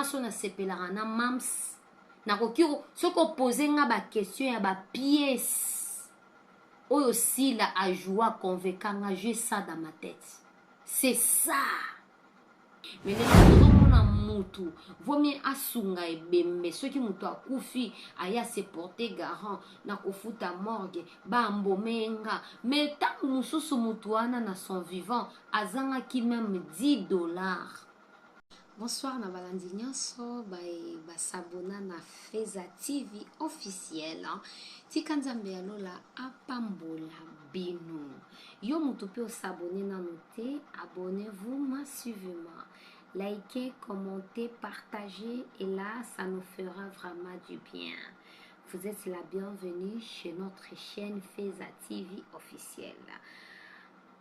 nyonso nasepelaka na mams nakoki soki opose nga baquestion ya bapiese oyo sila ajoua conveka nga jus ça dans ma tete c'est ça mais lelo tozomona mutu vaut mieux asunga ebembe soki mutu akufi aye ase porter garant na kofuta morgue baambome ye nga mais ntango mosusu mutu wana na son vivant azangaki meme 10 dollars Bonsoir na balandi nyonso baye basabona na Feza TV officiel. Tika Nzambe ya lola apambola bino. Yo mutu pe o s'abonner nanu te, abonnez vous ma suivez moi. Likez, commentez, partagez et là ça nous fera vraiment du bien. Vous êtes la bienvenue chez notre chaîne Feza TV officielle.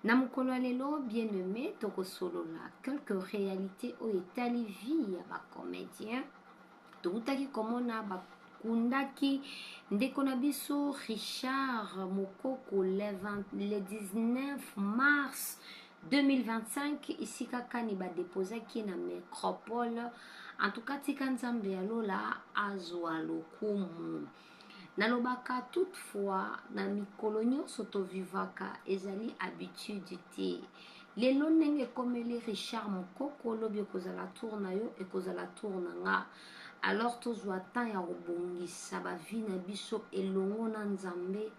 Na mokolo ya lelo bien aimé tokosolola quelques réalités oyo etali vie ya ba comédiens towutaki komona bakundaki ndeko na biso richard mokoko le 19 mars 2025 esika kani badepozaki ye na micropole en tout cas tika nzambe ya lola azwa lokumu Nalobaka toute fois na mikolo nionso to vivaka ezali habitude te. Lelo ndenge ekomeli Richard Mukoko lobi ekozala tour na yo ekozala tour na nga. Alors tozwa temps ya kobongisa ba vie na biso elongo na Nzambe.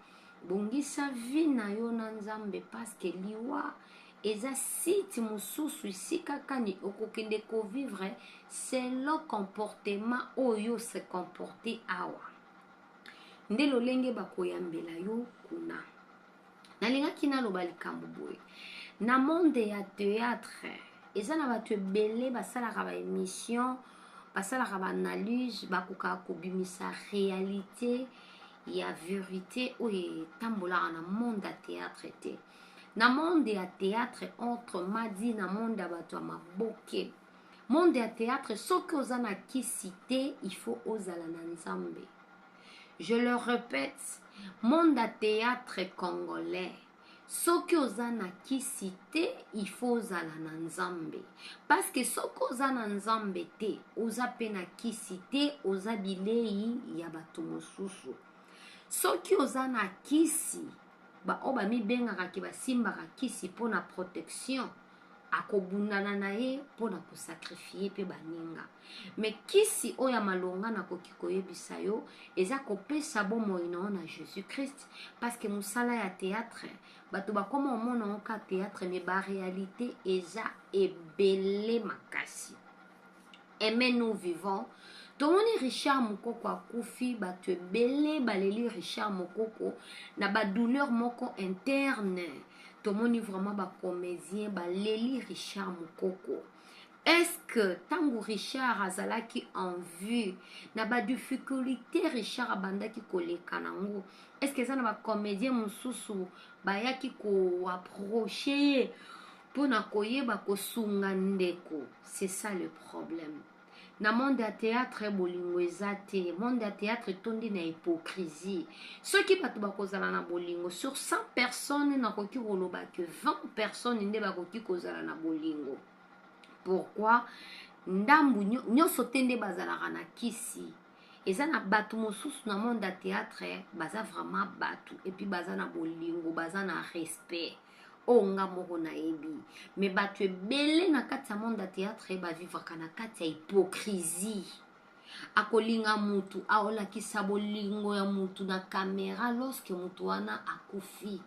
Bongisa vie na yo na Nzambe parce que liwa Eza site mususu esika kani okokende ko vivre selon comportement oyo yo se comporte awa nde lolenge bakoyambela yo kuna nalingaki naloba likambo boye na monde ya théâtre eza na bato ebele basalaka ba émission basalaka ba analyse bakokaka kobimisa réalité ya verité oyo etambolaka na monde ya théâtre te na monde ya theatre entre madi na monde ya bato ya maboke monde ya theatre soki oza na kisi te il faut ozala na nzambe je le répète monde ya theatre congolais soki oza na kisi te il faut ozala na nzambe parceke soki oza na nzambe te oza mpe na kisi te oza bilei ya bato mosusu soki oza na kisi baoyo bamibengaka ke basimbaka kisi mpo na protection akobundana na ye mpo na kosakrifie mpe baninga me kisi oyo ya malonga nakoki koyebisa yo eza kopesa bomoi na yo na jésus christ parceke mosala ya théâtre bato bakoma omona yango ka théâtre me barealité eza ebele makasi aime nous vivant tomoni richard mokoko akufi bato ebele baleli richard mokoko na badouleur moko interne tomoni vraiment bacomédien baleli richard mokoko eske ntango richard azalaki en vue na badifficulté richard abandaki koleka nango eske eza na bacomédien mosusu bayaki koaproche ye mpo na koyeba kosunga ndeko c'est ça le problème na monde ya théâtre bolingo eza te monde ya théâtre etondi na hypocrisie soki bato bakozala na bolingo sur 100 personnes nakoki koloba que 20 personnes nde bakoki kozala na bolingo pourquoi ndambu nyonso te nde bazalaka na kisi eza na bato mosusu na monde ya théâtre baza vraiment bato epuis baza na bolingo baza na respect oyo nga moko nayebi me bato ebele na kati ya monde ya théâtre bavivaka na kati ya hypocrisie akolinga mutu aolakisa bolingo ya mutu na kamera lorsque mutu wana akufi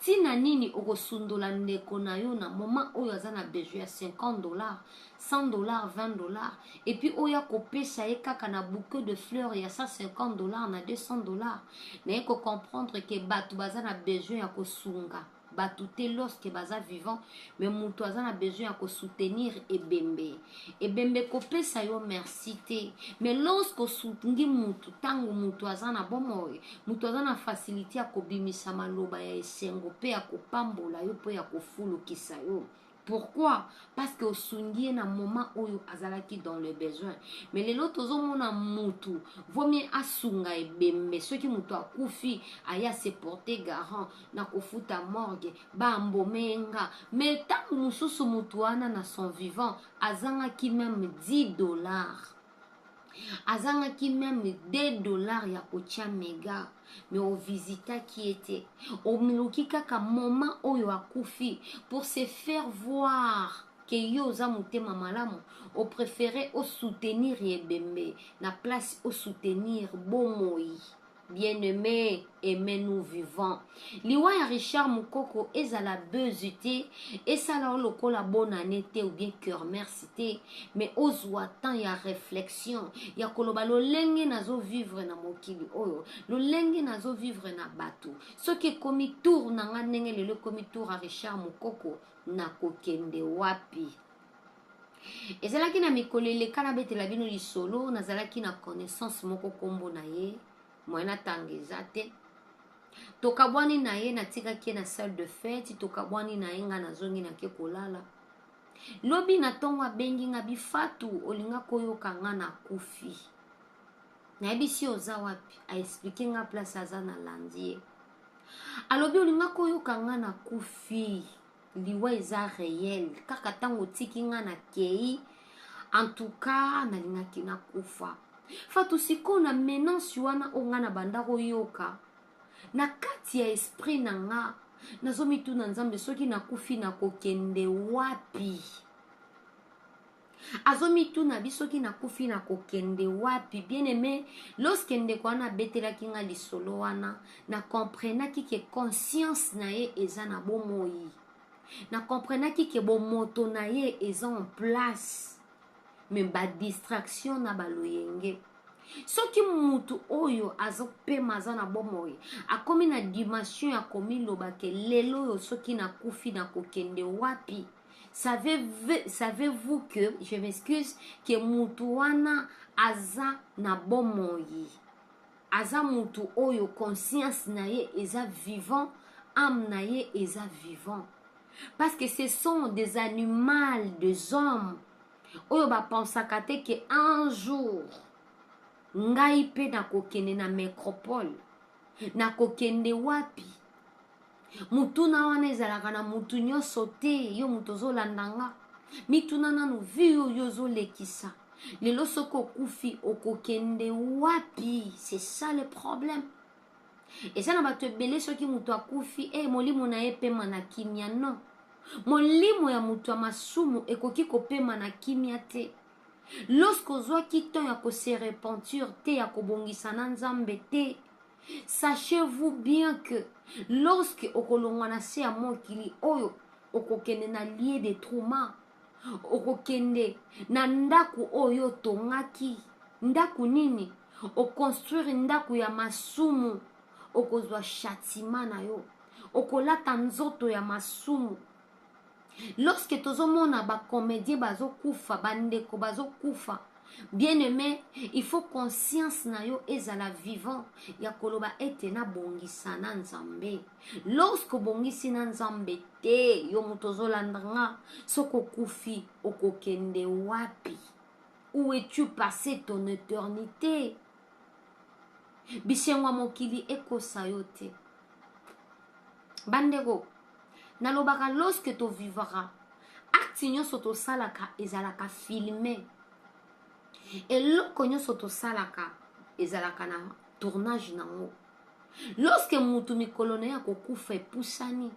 ntina nini okosundola ndeko na yo na moment oyo aza na besoin ya 50 dollars 100 dollars 20 dollars et puis oya kopesa ye kaka na bouquet de fleurs ya 150 dollars na 200 dollars naye ko comprendre ke bato baza na besoin ya kosunga bato te lorsque baza vivant mais moto aza na besoin ya kosoutenir ebembe ebembe kopesa yo merci te mais lorsque osungi moto ntango moto aza na bomoi moto aza na facilité ya kobimisa maloba ya esengo mpe ya kopambola yo mpo ya kofulukisa yo Pourquoi? Parce que osungi ye na moment oyo azalaki dans le besoin. Mais lelo tozomona mutu vaut mieux asunga ebembe soki mutu akufi aye a se porter garant na kofuta morgue ba embaume ye nga mais tango mosusu mutu wana na son vivant azangaki meme 10 dollars azangaki meme 2 dollars ya kotia mega me ovisitaki ye te omiluki kaka moment oyo akufi pour se faire voir ke yo oza motema malamu oprefere osoutenir ebembe na place osoutenir bomoi Bien aime aime nous vivant liwa ya Richard mukoko ezala buzz te esala yo lokola bonne annee te ou bien kermers te mais ozua temps ya reflexion ya koloba lolenge nazo vivre na mokili oyo lolenge nazo vivre na batu soki ekomi tour na nga ndenge lelo ekomi tour ya Richard mukoko nakokende wapi ezalaki na mikolo eleka nabetela bino lisolo nazalaki na connaissance moko nkombo na ye moyen atanga eza te tokabwani na ye natikaki ye na salle de fete tokabwani na ye ngai nazongi nake kolala lobi na ntongo abengi ngai bifatu olinga koyoka ngai na kufi nayebisi yo oza wapi aexplike ngai place aza na landi ye alobi olinga koyoka ngai na kufi liwa eza reel kaka ntango otiki nga na kei antuka nalingaki nakufa fatu sikoyo na menance wana oyo nga na banda koyoka na kati ya esprit na nga nazomituna nzambe soki nakufi nakokende wapi azo mituna abi soki nakufi nakokende wapi bien aime lorsque ndeko wana abetelaki nga lisolo wana na comprenaki ke conscience na ye eza na bomoi na comprenaki ke bomoto na ye eza en place me ba distraction na baloyenge soki mutu oyo azopema aza na bomoi akomi na dimension ya komiloba ke lelo oyo soki nakufi nakokende wapi savez-vous que je m'excuse que mutu wana aza na bomoi aza mutu oyo conscience na ye eza vivant ame na ye eza vivant parce que ce sont des animaux des hommes oyo bapensaka te ke un jour ngai mpe nakokende na micropole nakokende wapi motuna wana ezalaka na motu nyonso te yo moto ozolanda nga mituna nanu vi oyo ozolekisa lelo soki okufi okokende wapi c'est ça le problème eza na bato ebele soki moto akufi e molimo na ye epema na kimia non molimo ya moto ya masumu ekoki kopema na kimia te lorsque ozwaki temps ya kose repentir te ya kobongisa na nzambe te Sachez-vous bien que lorsque okolongwa na se ya mokili oyo okokende na lie de trauma okokende na ndako oyo otongaki ndako nini okonstruire ndako ya masumu okozwa chatima na yo okolata nzoto ya masumu lorsque tozomona ba comedien bazokufa bandeko bazokufa bien aime il faut conscience na yo ezala vivant ya koloba ete nabongisa na nzambe lorsque obongisi na nzambe te yo moto ozolanda nga soki okufi okokende wapi où es-tu passé ton éternité bisengo ya mokili ekosa yo te bandeko nalobaka lorsque tovivaka acte nyonso tosalaka ezalaka filme eloko nyonso tosalaka ezalaka na tournage nango lorsque mutu mikolo na ye akokufa epusani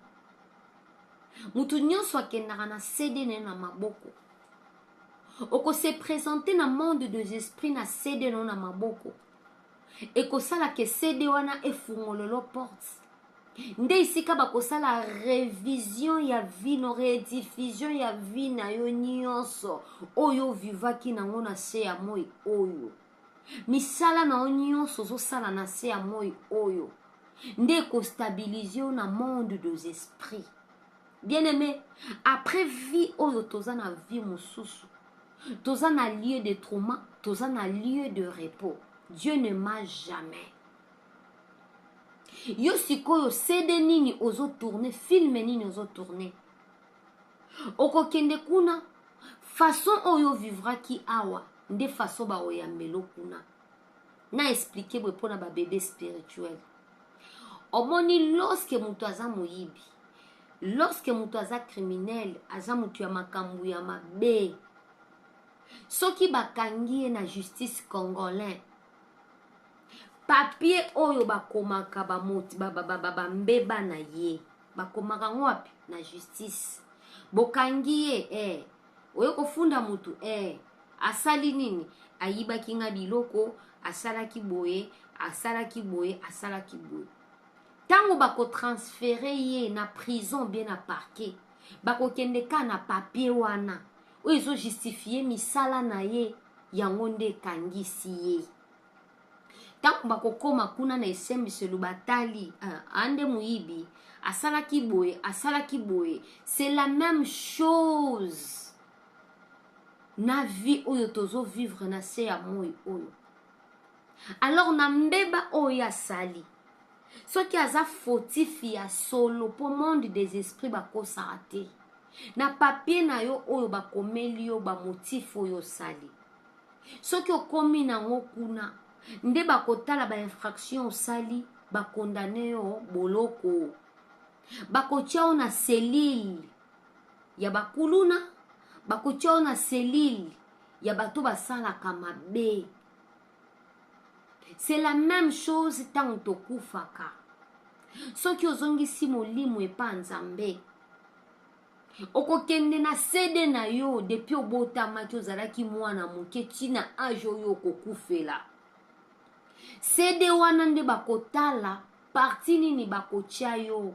mutu nyonso akendaka na cd na ye na maboko oko se presenter na monde des esprits na cd no na maboko ekosala ke cd wana efungololo porte nde esika bakosala revision ya vie no rediffusion ya vie na yo nyonso oyo ovivaki nango na se ya moi oyo misala na yo nyonso ozosala na se ya moi oyo nde ekostabilize yo na monde des esprits bien aime après vie oyo toza na vie mosusu toza na lieu de trauma toza na lieu de repos dieu ne ma jamais yo sikoyo cd nini ozo tourne filme nini ozo tourne okokende kuna façon oyo ovivraki awa nde façon baoyambelo kuna na explike boye mpo na babebe spirituel omoni loske moto aza moyibi loske moto aza criminel aza moto ya makambo ya mabe soki bakangi ye na justice congolais papie oyo bakomaka bambeba ba, ba, ba, ba, na ye bakomaka yango wapi na justice bokangi ye eh, oye kofunda mutu eh asali nini ayibaki nga biloko asalaki boye asalaki boye asalaki boye ntango bakotransfere ye na prison bie na parquet bakokende ka na papier wana oyo ezojustifie misala na ye yango nde ekangisi ye ntango bakokoma kuna na esembiselo batali ah, ande moyibi asalaki boye asalaki boye c'est la même chose na vie oyo tozo vivre na se ya moi oyo alors na mbeba oyo asali soki aza fautif ya solo mpo monde des esprits bakosaka te na papie na yo oyo bakomeli yo bamotif oyo osali soki okomi nango kuna nde bakotala ba infraction osali bakondane yo boloko bakotya yo na selile ya bakuluna bakotya yo na selile ya bato basalaka mabe c'est la même chose ntango tokufaka soki ozongisi molimo epa nzambe okokende na CD na yo depuis obotamaki ozalaki mwana moke ti na age oyo okokufela CD wana nde bakotala parti nini bakotya yo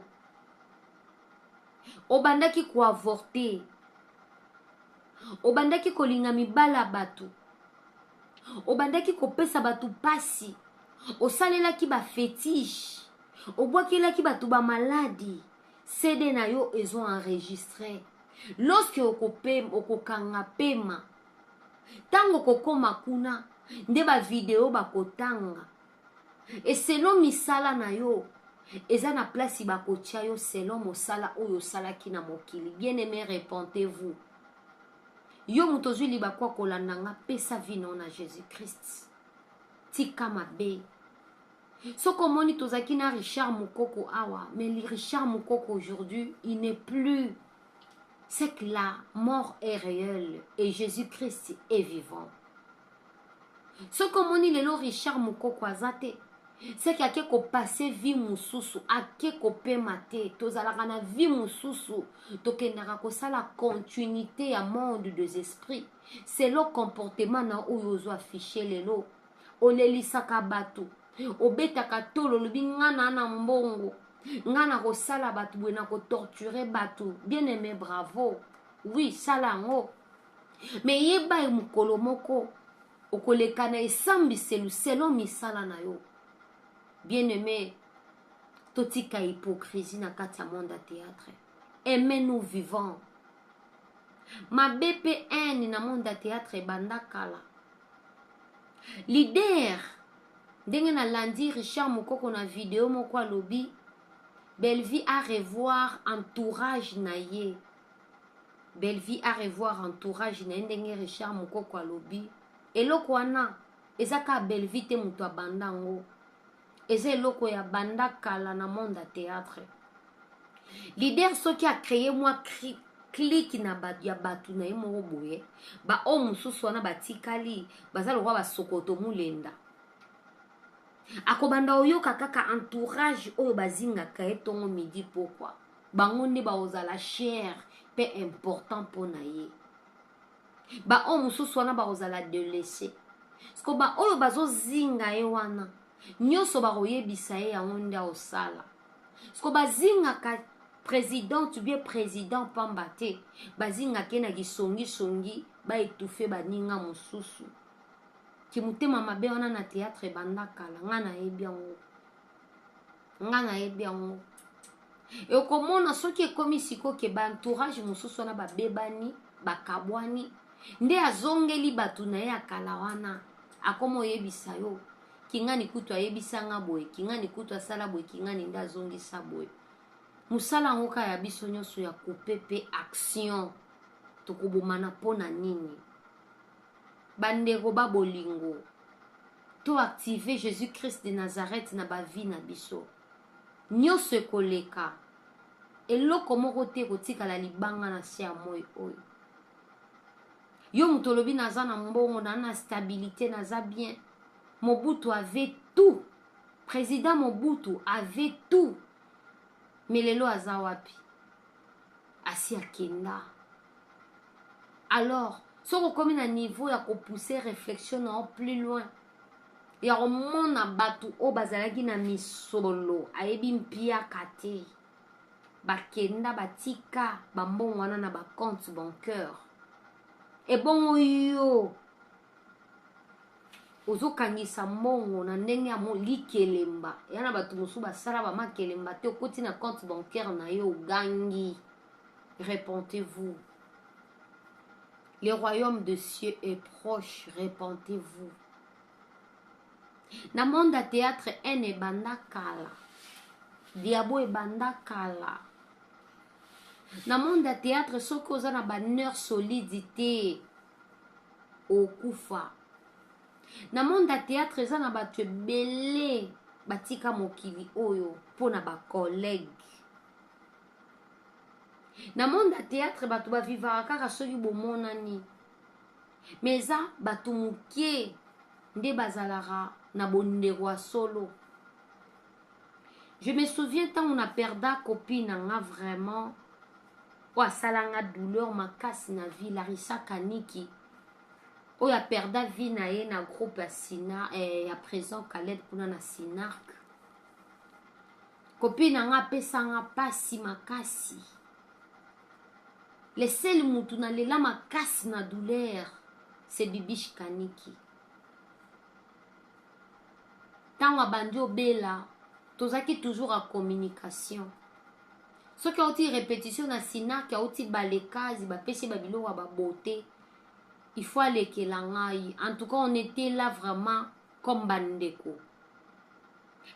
obandaki koavorte obandaki kolinga mibala ya bato obandaki kopesa bato mpasi osalelaki bafetiche obwakelaki bato bamaladi CD na yo ezo enregistre lorsque okopema okokanga pema ntango okokoma kuna nde bavideo bakotanga eselo misala na yo eza na place bakotya yo selon mosala oyo osalaki na mokili bien aime repentez vous yo moto ozwi libaku ya kolanda nga pesa vino na jésus christ tika mabe soki omoni tozalaki na richard mukoko awa mais richard mukoko aujourd'hui il n'est plus c'est que la mort est réelle et jésus christ est vivant soki omoni lelo richard mukoko aza te c'est que ake kopase vie mosusu ake kopema te tozalaka na vie mosusu tokendaka kosala continuité ya monde des esprits selo comportement na oyo ozo affiche lelo olelisaka bato obetaka tolo olobi nga naa na mbongo nga nakosala bato boye nakotorture bato bien aime bravo wi sala yango me yeba ye mokolo moko okoleka na esambiselu selon misala na yo bien aime totika hypocrisie na kati ya monde ya théâtre aime nous vivant mabe mpe haine na monde ya théâtre ebanda kala Leader ndenge na landi Richard Mukoko na video moko alobi Bellevue a revoir entourage na ye. Bellevue a revoir entourage na ye ndenge Richard Mukoko alobi eloko wana eza ka Bellevue te moto abanda yango. eza eloko ya banda kala na monde ya théâtre leader soki acreye mwa kliki na bato ya bato na ye moko boye baoyo mosusu wana batikali baza lokola basokoto molenda akobanda oyoka kaka entourage oyo bazingaka ye ntongo midi pokwa bango nde bakozala chere mpe important mpo na ye baoyo mosusu wana bakozala delese siko baoyo bazozinga ye wana nyonso bakoyebisa ye yango nde aosala siko bazingaka president to bien president pamba te bazingaka ye na kisongisongi baetufe baninga mosusu kimotema mabe wana na théâtre ebanda kala ngai nayebi yango nga nayebi yango okomona soki ekomi sikoyo ke baentourage mosusu wana babebani bakabwani nde azongeli bato na ye ya kala wana akoma oyebisa yo kingani kutu ayebisa nga boye kingani kutu asala boye kingani nde azongisa boye mosala yango kaka ya biso nyonso ya coupe mpe action tokobomana mpo na nini Bandeko ba bolingo, to activer Jesus Christ de Nazareth na ba vie na biso. Nionso ekoleka. Eloko moko te ekotikala libanga na se ya moi oyo. Yo moto olobi naza na mbongo, na na stabilite, naza bien. Mobutu avait tout. Président Mobutu avait tout. Mais lelo aza wapi? Asi akenda. alors soki okomi na niveau ya kopousse réflexion na yo plus loin ya komona bato oyo bazalaki na misolo ayebi mpiaka te bakenda batika bambongo wana na bacompte banqueur ebongo yo ozokangisa mbongo na ndenge ya likelemba ya na bato mosusu basala bamakelemba te okoti na compte bancaire na yo ogangi repentez-vous. Le royaume de cieux est proche, repentez-vous. Na monde ya théâtre haine ebanda kala. Diabo ebanda kala. Na monde ya théâtre soki oza na ba nerf solide te okufa. Na monde ya théâtre eza na bato ebele batika mokili oyo mpo na ba collègue na monde ya théâtre bato bavivaka kaka soki bomonani me eza bato moke nde bazalaka na bondeko ya solo je me souviens ntango na perda kopi na nga vraiment oyo asala nga douleur makasi na vie larisa kaniki oyo aperda vie na ye na groupe ya sina eh, ya présent caleb kuna na sinarc Copine na nga apesa nga pasi makasi. Le seul mutu na lela makasi na douleur c'est Bibiche Kaniki. Tango abandi obela tozaki toujours à communication. soki auti repetition na sinac auti balekazi bapesi ye babiloko ya babote il faut alekela ngai en tout cas on était là vraiment comme ba ndeko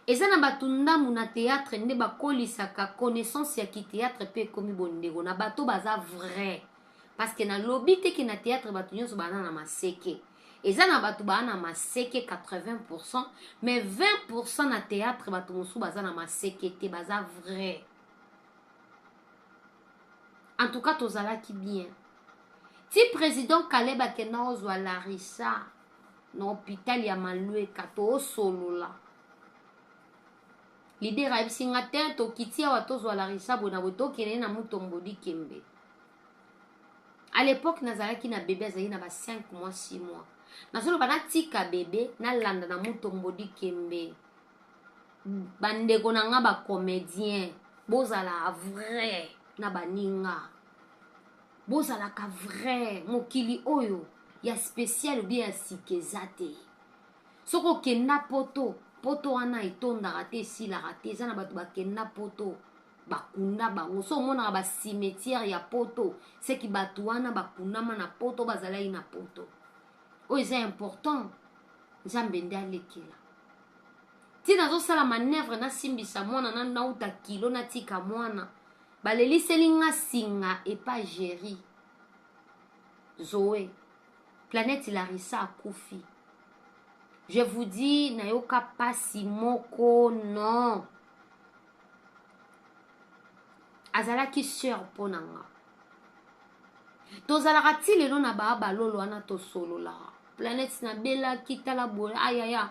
eza na batu ndambu na theatre nde bakolisaka connaissance ya ki theatre pe ekomi bondeko na bato baza vrai parce que na lobi te ke na theatre bato nionso baana na maseke eza na bato baa na maseke 80% mais 20% na theatre bato mosusu baza na maseke te baza vrai en tout cas tozalaki bien ti president kaleba akenda ozwa larisa na hopital ya malweka toosolola lider ayebisi nga te tokiti awa tozwa larisa boye na boye tokende na mutombodi kembe à l'époque nazalaki na bebe azalaki na ba 5 mois 6 mois nazoloba natika bebe nalanda na mutombodi kembe bandeko na nga bacomédien bozala vrai na baninga bozalaka vrai mokili oyo ya spécial obie ya sika eza te soki okenda poto poto wana etondaka te esilaka te eza na bato bakenda poto bakunda bango so omonaka bacimetiere ya poto seki bato wana bakundama na poto bazalaki na poto oyo eza important nzambe nde alekela ti nazosala manevre nasimbisa mwana na nauta kilo natika mwana baleliseli nga singa epa geri zoe planète larisa akufi je vous dis nayoka pasi moko non azalaki sœur mpo na nga tozalaka ti lelo na ba balolo wana tosolola planète na belaki tala boye ayaya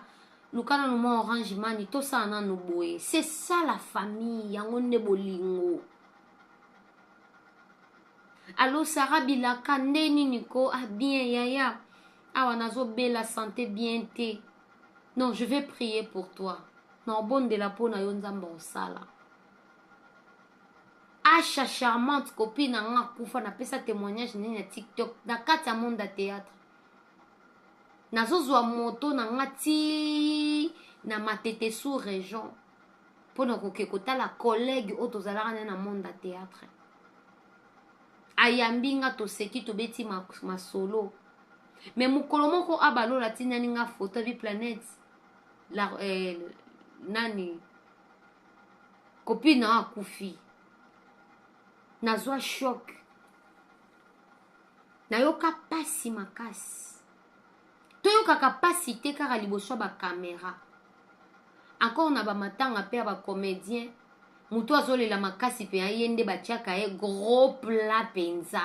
luka nanu mwa orange mani tosala nanu boye c'est ça la famille yango nde bolingo alo sara bilaka nde nini ko ah bien yaya awa nazobela sante bien te non je vais prier pour toi na obondela mpo na yo nzambe osala Asha charmante copine na nga akufa napesa témoignage nini na TikTok na kati ya monde ya théâtre nazozwa moto na nga ti na matete sous région mpo na koke kotala collègue oyo tozalaka naye na monde ya théâtre ayambi nga toseki tobeti masolo me mokolo moko abalola atindani nga foto abi planète la, eh, nani copine na akufi nazwa shok nayoka mpasi makasi toyokaka mpasi te kaka liboso ya bakamera encore na bamatanga mpe ya bacomédien moto azolela makasi mpe ye nde batiaka ye gros pla mpenza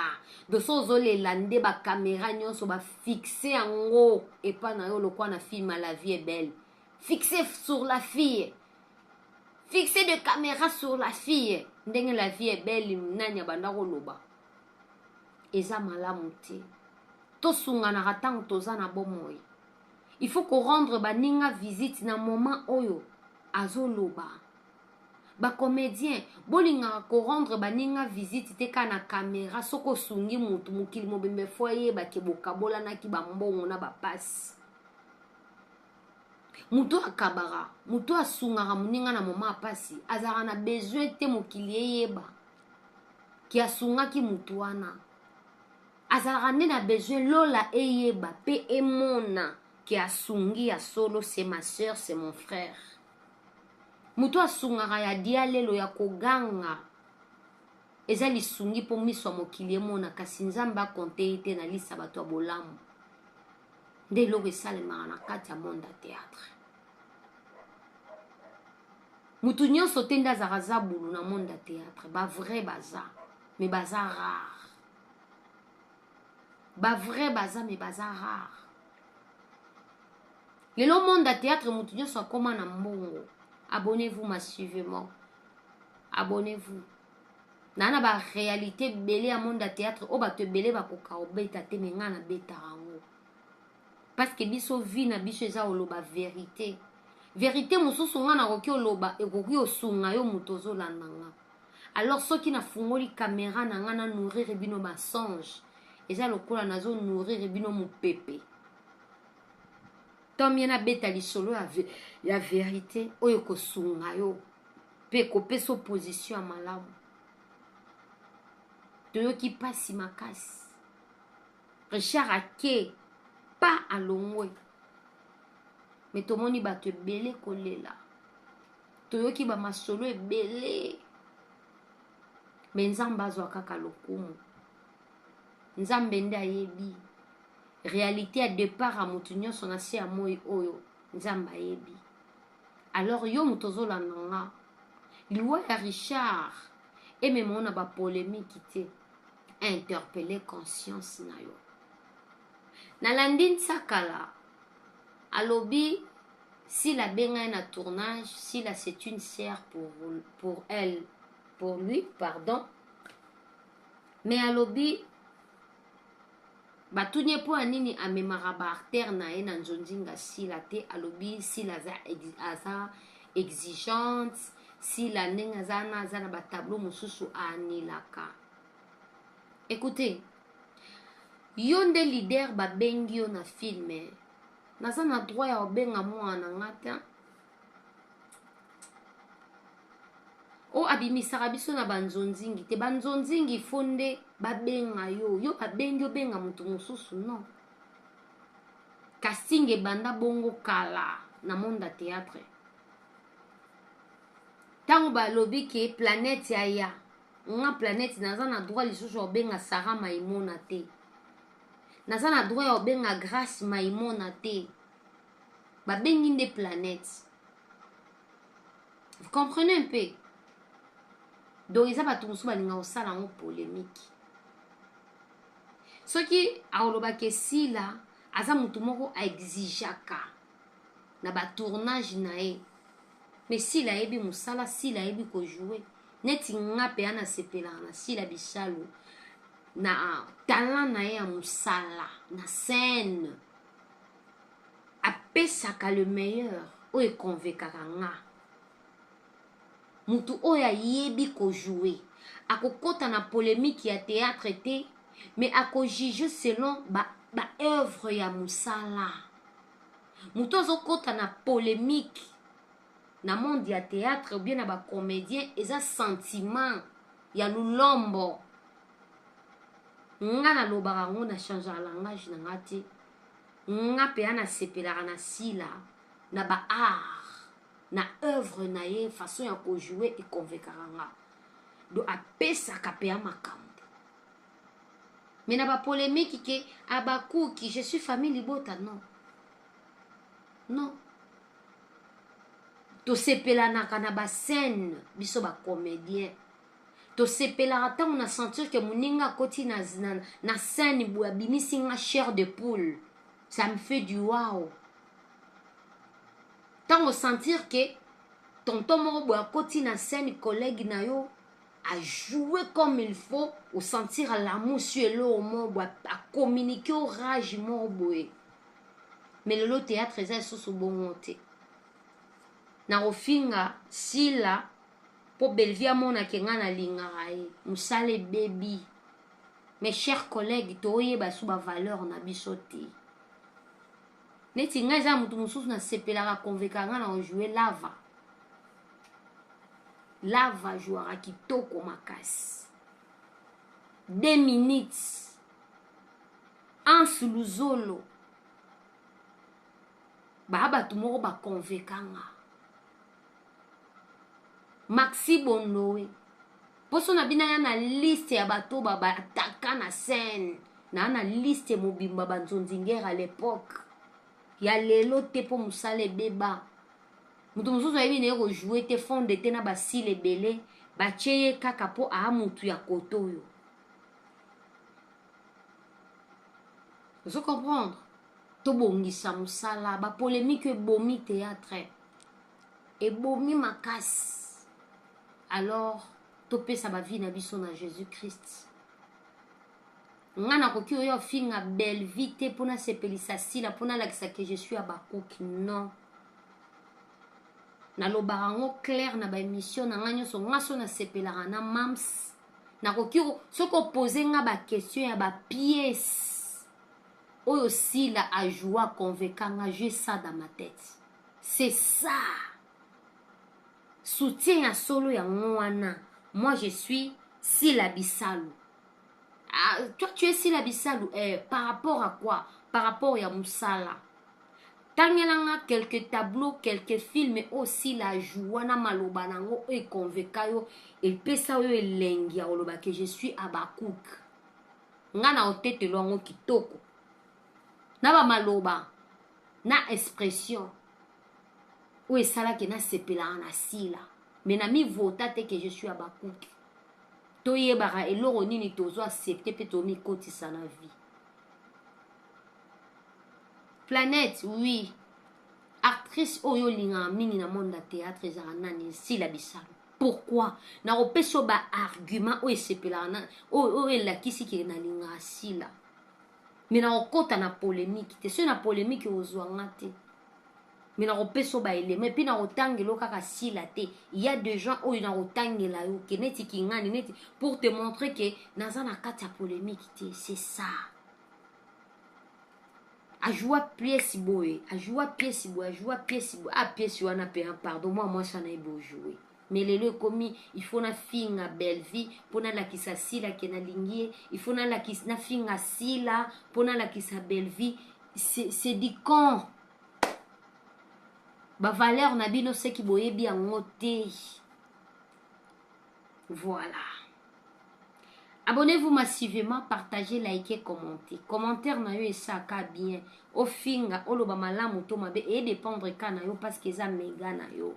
doso ozolela nde bakamera nyonso bafixe yango epa na yo lokwa na film la vie est belle fixe sur la fille fixe de camera sur la fille ndenge la vie est belle nani abanda koloba eza malamu te tosunganaka ntango toza na bomoi il faut korendre baninga visite na moment oyo azoloba bacomédien bolingaka korendre baninga visite te kaka na kamera soki osungi motu mokili mobimba efo ayebake bokabolanaki bambongo na bapasi moto oyo akabaka moto oyo asungaka moninga na moma ya mpasi azalaka na besoin te mokili eyeba ke asungaki moto wana azalaka nde na besoin lola eyeba mpe emona ke asungi ya solo se ma soeur se mon frère moto oyo asungaka ya dialelo ya koganga eza lisungi mpo miso ya mokili emona kasi nzambe akonte ye te na lisa bato ya bolamu nde eloko esalemaka na kati ya monde ya théâtre motu nyonso te nde azalaka zabulu na monde ya théâtre bavrai baza me baza rare bavrai baza me baza rare lelo monde ya théâtre motu nyonso akoma na mbongo abonnez-vous massivement abonnez-vous na na ba realite ebele ya monde ya théâtre oyo bato ebele bakoka kobeta te me ngai nabetaka yango parce que biso vie na biso eza koloba verite verite mosusu ngai nakoki oloba ekoki osunga yo moto ozolanda nga alors soki nafungoli kamera na ngai na nourrir bino basonge eza lokola nazo nourrir bino mopepe tomie nabeta lisolo ya, ya verite oyo ekosunga yo mpe ekopesa opposition ya malamu toyoki mpasi makasi richard ake pa alongwe me tomoni bato ebele kolela toyoki bamasolo ebele me nzambe azwa kaka lokumu nzambe nde ayebi realite ya depart ya moto nyonso na se ya moi oyo nzambe ayebi Alors yo moto ozolanda nga liwa ya Richard emema yo na ba polemique te interpelle conscience na yo nalandi nsakala alobi sila abenga ye na tournage sila c'est une sœur pour, pour elle pour lui pardon mais alobi batuni ye mpo ya nini amemaka ba artère na ye na nzonzinga sila te alobi sila aza, aza exigeante sila ndenge aza na aza na batableau mosusu aanilaka ekoute yo nde leader babengi yo na filme naza na droit ya kobenga mwana na nga te oyo abimisaka biso na banzonzingi te banzonzingi fo nde babenga yo yo babengi obenga moto mosusu non casting ebanda bongo kala na monde ya théâtre ntango balobi ke planète ya ya nga planète naza na droit lisusu ya kobenga sara maimona te naza na droit ya kobenga grace maimona te babengi nde planète vous comprenez un peu donc eza bato mosusu balinga kosala yango polémique soki akolobaka esila aza motu moko aexigeaka na batournage na ye me sila ayebi mosala sila ayebi kojoue neti nga mpe ana sepelaka na sila bisalu na talent na ye ya mosala na scène apesaka le meilleur oyo ekonvekaka nga motu oyo ayebi kojoue akokota na polemique ya théâtre te mais akojuge selon ba, ba œuvre ya mosala motu azokota na polemique na monde ya theatre ou bien na ba comedien eza sentiment ya lulombo nga nalobaka yango na changea langage na nga te nga mpenza nasepelaka na sila na ba art na œuvre na ye façon ya kojoue ekonvekaka nga do apesaka mpenza makambo me na bapolemiki ke abakuki je suis famille libota non non tosepelanaka na bascène biso bacomédien tosepelaka ntango na sentir ke moninga akoti na, na, na scène boye abimisi nga chair de poule ça me fait du wow ntango sentir ke tonton moko boye akoti na scène collègue na yo a joue comme il faut osentir alamu sur eloko moko boye acommunike o rage moko boye me lelo théâtre eza lisusu bongo te na kofinga sila mpo bellevie amonake ngai nalingaka ye mosala ebebi mes chers collègues toyeba su bavaleur na biso te neti nga eza mutu mosusu nasepelaka conveka nga na ojoue lava lava jouaka kitoko makasi 2 minutes ansu luzolo baa bato moko baconveka nga maxi bondowe poso na bino aya na liste ya bato babataka na scène naa na liste mobimba banzonzingere à l'époque ya lelo te mpo mosala ebeba moto mosusu ayebi na ye kojoue te fonde te na basile ebele batye ye kaka mpo aa motu ya koto oyo ozo comprendre tobongisa mosala bapolemike ebomi théâtre ebomi makasi alors topesa bavi na biso na jésus christ nga nakoki oyo afinga belvie te mpo nasepelisa sila mpo nalakisa ke je suis abakuki non nalobaka yango claire na baémission na ngai nyonso nga so nasepelaka na mams nakoki soki opose nga baquestion ya bapiese oyo sila ajoua conveka nga jue ça dans ma tete C'est ça. Soutien ya solo yango wana. Moi je suis Sila Bisalu. Ah, toi tu es Sila Bisalu eh, par rapport à quoi? Par rapport ya musala. tangelanga quelques tableaux quelques films oyo sila ajoua na maloba nango oyo ekonveka yo epesa yo elengi ya koloba ke je suis abakouk nga na otetelo yango kitoko na bamaloba na expression oyo esalaki nasepelaka na sila me na mivota te ke je suis abakuki toyebaka eloko nini tozo accepte mpe tomikotisa na vie planète oui actrice oyo olingaka mingi na monde ya théâtre ezalaka nani sila bisalu pourquoi nakopesa yo baargument oyo esepelaka oyo elakisi ke nalingaka sila mais nakokota na polemique te soki na polemique ozwa nga te mais nakopesa yo baelema epuis nakotangela yo kaka sila te ya de gens oyo nakotangela yo ke neti kingani neti pour te montrer ke naza na kati ya polemique te c'est ça ajua pièce boye ajua pièce boye ajua pièce boye a pièce wana mpe pardon mwa mwasi wana yebi ojoue mais lelo ekomi il faut na finga Bellevue mpo nalakisa Sila ke nalingi ye il faut nalakisa na finga Sila mpo nalakisa Bellevue c'est c'est du con ba valeur na bino seki boyebi yango te voilà abonnez-vous massivement partagez likez commentez commentaire na yo esaka bien ofinga oloba malamu to mabe edépendre ka na yo parce que eza mega na yo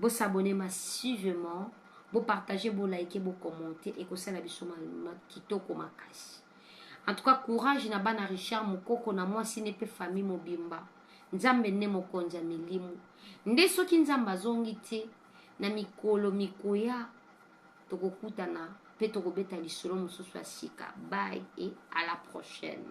Bo s'abonner massivement, bo partager, bo liker, bo commenter ekosala biso ma, ma kitoko makasi. En tout cas courage na bana Richard Mukoko na mwasi ne pe famille mobimba. Nzambe nde mokonzi ya milimu. Nde soki Nzambe azongi te na mikolo mikoya tokokutana pe tokobeta lisolo mosusu ya sika. Bye et à la prochaine.